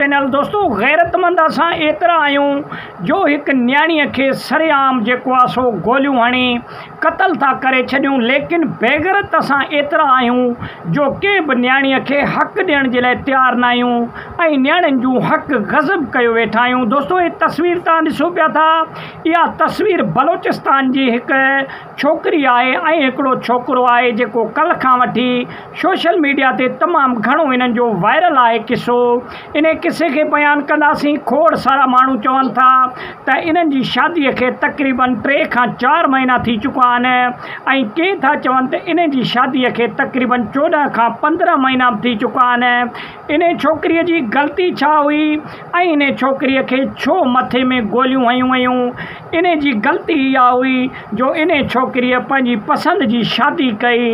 Channel دوستو غيرتمند اسان ايترا آهيون جو هڪ نياڻيء کي سرعام جيڪو آ سو گوليون هڻي قتل ٿا ڪري ڇڏيون ليڪن بيغرت اسان ايترا آهيون جو ڪنهن به نياڻيء کي حق ڏيڻ جي لاء تيار ناهيون ۽ نياڻين جون حق غصب ڪيو ويٺا آهيون دوستو هي تصوير توهان ڏسو پيا ٿا اها تصوير بلوچستان جي هڪ ڇوڪري آهي ۽ هڪڙو ڇوڪرو آهي جيڪو ڪلهه کان وٺي سوشل ميڊيا تي تمام گهڻو هنن جو وائرل آهي قصو انهي قصي کي بيان ڪنداسين کوڙ سارا ماڻهو چون ٿا ته انهن جي شادي کي تقريبن ٽي کان چار مهينا ٿي چڪا آهن ۽ ڪي ٿا چون ته انهي جي شادي کي تقريبن چوڏهن کان پندرهن مهينا به ٿي چڪا آهن انهي ڇوڪري جي غلطي ڇا هئي ۽ انهي ڇوڪري کي ڇو مٿي ۾ گوليون هنيون ويون انهي جي غلطي اها هئي جو انهي ڇوڪريء پنهنجي پسند جي شادي ڪئي.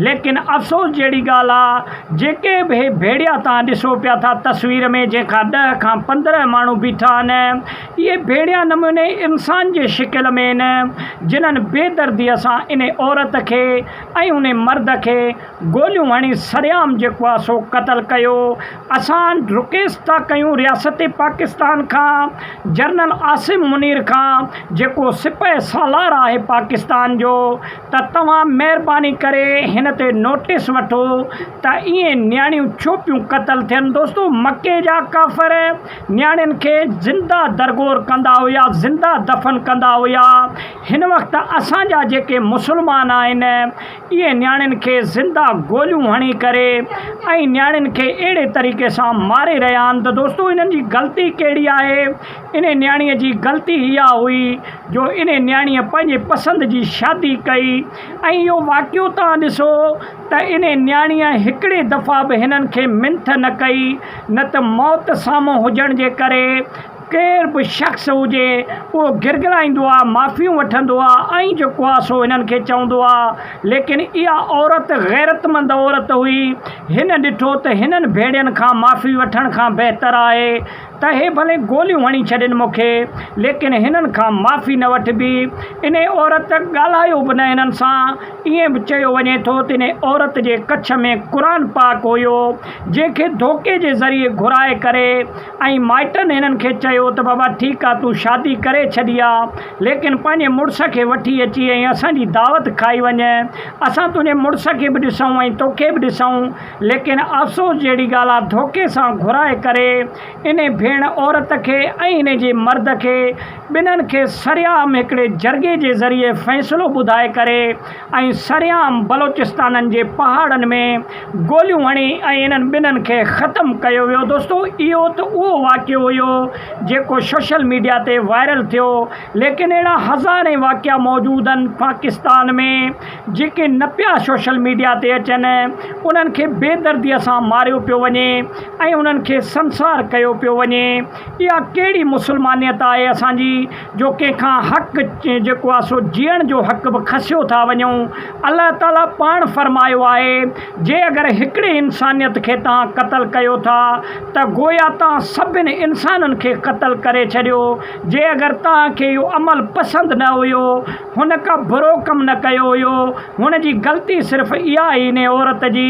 ليڪن افسوس جهڙي ڳالهه آ جيڪي به هي ڀيڙيا تان ڏسو پيا ٿا تصوير ۾ جنهن کان ڏهه کان پندرهن ماڻهو بيٺا آهن اهي ڀيڙيا نموني انسان جي شڪل ۾ آهن جنهن بي دردي سان انهي عورت کي ۽ انهي مرد کي گوليون هڻي سرعام جيڪو آ سو قتل ڪيو اسان رڪيست ٿا ڪيون رياست پاڪستان کان جرنل عاصم منير کان جيڪو سپهه سالار آهي پاڪستان جو ته توهان مهرباني ڪري هن تي نوٽيس وٺو ته ايئن نياڻيون ڇو پيون قتل ٿين دوستو مڪي جا ڪافر نياڻين کي زنده درگور ڪندا هيا زنده دفن ڪندا هيا هن وقت اسان جا جيڪي مسلمان آهن اهي نياڻين کي زنده گوليون هڻي ڪري ۽ نياڻين کي اهڙي طريقي سان ماري رهيا آهن ته دوستو انهن جي غلطي ڪهڙي آهي؟ انهي نياڻيء جي غلطي اها هئي جو انهي نياڻيء پنهنجي پسند جي شادي ڪئي ۽ اهو واقعو توهان ڏسو ته انهي نياڻيء هڪڙي دفعا به هنن کي منٿ نه ڪئي نه ته موت سامهون هجڻ جي ڪري ڪير به شخص هجي اهو گرگرائيندو آ، معافيون وٺندو آ ۽ جيڪو آ سو هنن کي چوندو آ. ليڪن اها عورت غيرتمند عورت هئي. هن ڏٺو ته هنن ڀيڙين کان معافي وٺڻ کان بهتر آهي ته هي ڀلي گوليون هڻي ڇڏين مون کي ليڪن هنن کان معافي نه وٺبي. انهي عورت ڳالهايو به نه هنن سان. ائين به چيو وڃي ٿو ته انهي عورت جي ڪڇ ۾ قرآن پاڪ هيو جنهن کي ڌوڪي جي ذريعي گهرائي ڪري ۽ مائٽن هنن کي چيو ته بابا ٺيڪ آ تون شادي ڪري ڇڏي آ ليڪن پنهنجي مڙس کي وٺي اچي ۽ اسان جي دعوت کائي وڃ اسان تنهنجي مڙس کي به ڏسون ۽ توکي به ڏسون ليڪن افسوس جهڙي ڳالهه آ ڌوڪي سان گهرائي ڪري انهي ڀيڻ عورت کي ۽ انهي جي مرد کي ٻنهن کي سرعام هڪڙي جرڳي جي ذريعي فيصلو ٻڌائي ڪري ۽ سرعام بلوچستانن جي پهاڙن ۾ گوليون هڻي ۽ انهن ٻنهن کي ختم ڪيو ويو دوستو اهو ته اهو واقعو هيو جيڪو سوشل ميڊيا تي وائرل ٿيو ليڪن اهڙا هزارين واقعا موجود آهن پاڪستان ۾ جيڪي نه پيا سوشل ميڊيا تي اچن انهن کي بي دردي سان ماريو پيو وڃي ۽ انهن کي سنسار ڪيو پيو وڃي اها ڪهڙي مسلمانيت آهي اسان جي جو ڪنهن کان حق جيڪو آهي سو جيئڻ جو حق به کسيو ٿا وڃون الله تعاليٰ پاڻ فرمايو آهي جي اگر هڪڙي انسانيت کي توهان قتل ڪيو ٿا ته گويا توهان سڀن انسانن کي قتل ڪري ڇڏيو جي اگر توهان کي اهو عمل پسند نه هيو هن ڪا برو ڪم نه ڪيو هيو هن جي غلطي صرف اها هئي انهي عورت جي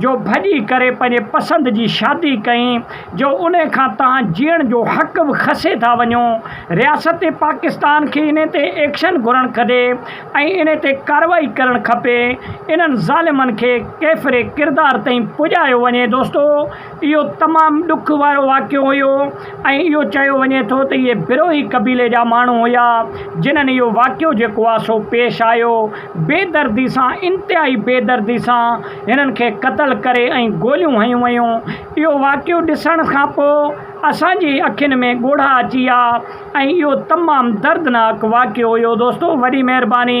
جو ڀڄي ڪري پنهنجي پسند جي شادي ڪئي جو ان کان توهان جيئڻ جو حق به کسي ٿا وڃو، رياست پاڪستان کي ان تي ايڪشن گهرڻ کدي ۽ ان تي ڪارروائي ڪرڻ کپي، انهن ظالمن کي ڪيفري ڪردار تائين پڄايو وڃي دوستو اهو تمام ڏک وارو واقعو هيو ۽ اهو چيو وڃي ٿو ته اهي بروهي قبيلي جا ماڻهو هيا جنهن اهو واقعو جيڪو آ سو پيش آيو بي دردي سان انتهائي بي دردي سان هنن کي قتل ڪري ۽ گوليون هنيون ويون اهو واقعو ڏسڻ کان پوء اسان جي اکين ۾ ڳوڙها اچي ويا ۽ اهو تمام دردناڪ واقعو هيو دوستو وڏي مهرباني.